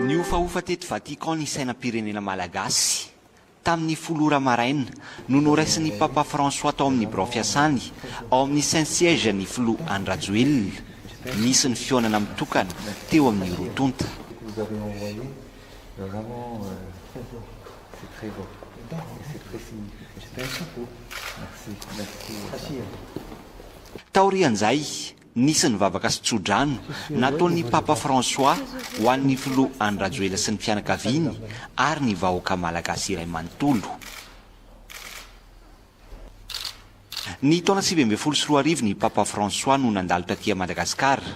Nihofahofa teto Vatican ny sainam-pirenena malagasy. Tamin'ny folo ora maraina no noraisin'ny Papa François tao amin'ny birao fiasany ao amin'ny Saint-Siège ny Filoha Andry Rajoelina. Nisy ny fihaonana mitokana teo amin'ny roa tonta. C'est très beau. Et c'est précis. Je t'aime beaucoup. Merci. Merci. Merci. Taorian'izay, nisy ny vavaka sy tso-drano nataon'ny Papa François ho an'ny Filoha Andry Rajoelina sy ny fianakaviany ary ny vahoaka malagasy iray manontolo. Ny taona sivy ambin'ny folo sy roa arivo ny Papa François no nandalo taty Madagasikara.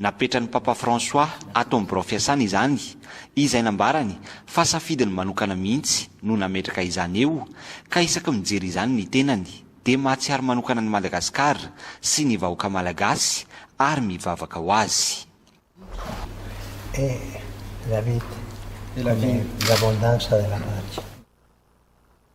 Napetran'ny Papa François ato amin'ny birao fiasany izany, izay nambarany fa safidiny manokana mihitsy no nametraka izany eo, ka isaky mijery izany ny tenany dia mahatsiaro manokana an'i Madagasikara sy ny vahoaka malagasy ary mivavaka ho azy.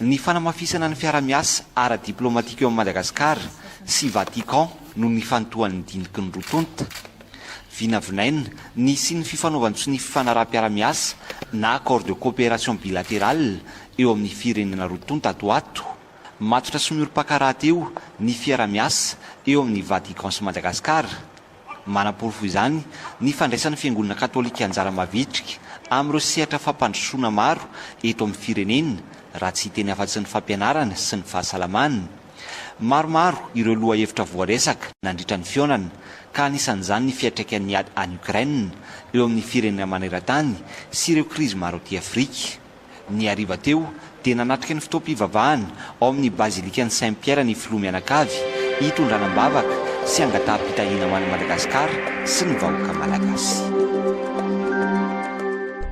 Ny fanamafisana ny fiarahamiasa ara-diplaomatika eo amin'i Madagasikara sy Vatican noho ny fanontohan'ny diniky ny roa tonta. Vinavinaina ny hisian'ny fifanaovan-tsonia ny fifanaraham-piarahamiasa na accord de coopération bilatéral eo amin'ny firenena roa tonta ato ho ato. Matotra sy miorim-pankaraha-teo ny fiarahamiasa eo amin'i Vatican sy Madagasikara. Manaporofo izany ny fandraisan'ny Fiangonana Katolika anjara mavitrika amin'ireo sehatra fampandrosoana maro eto amin'ny firenena, raha tsy hiteny afa-tsy ny fampianarana sy ny fahasalamana. Maromaro ireo lohahevitra voaresaka nandritra ny fihaonana, ka anisan'izany ny fiantraikan'ny ady any Ukraine eo amin'ny firenena maneran-tany sy ireo krizy maro aty Afrika. Ny hariva teo dia nanatrika ny fotoam-pivavahana ao amin'ny Bazilikan'i Saint Pierre ny Filoha mianakavy hitondrana am-bavaka sy hangataham-pitahiana ho an'i Madagasikara sy ny vahoaka Malagasy.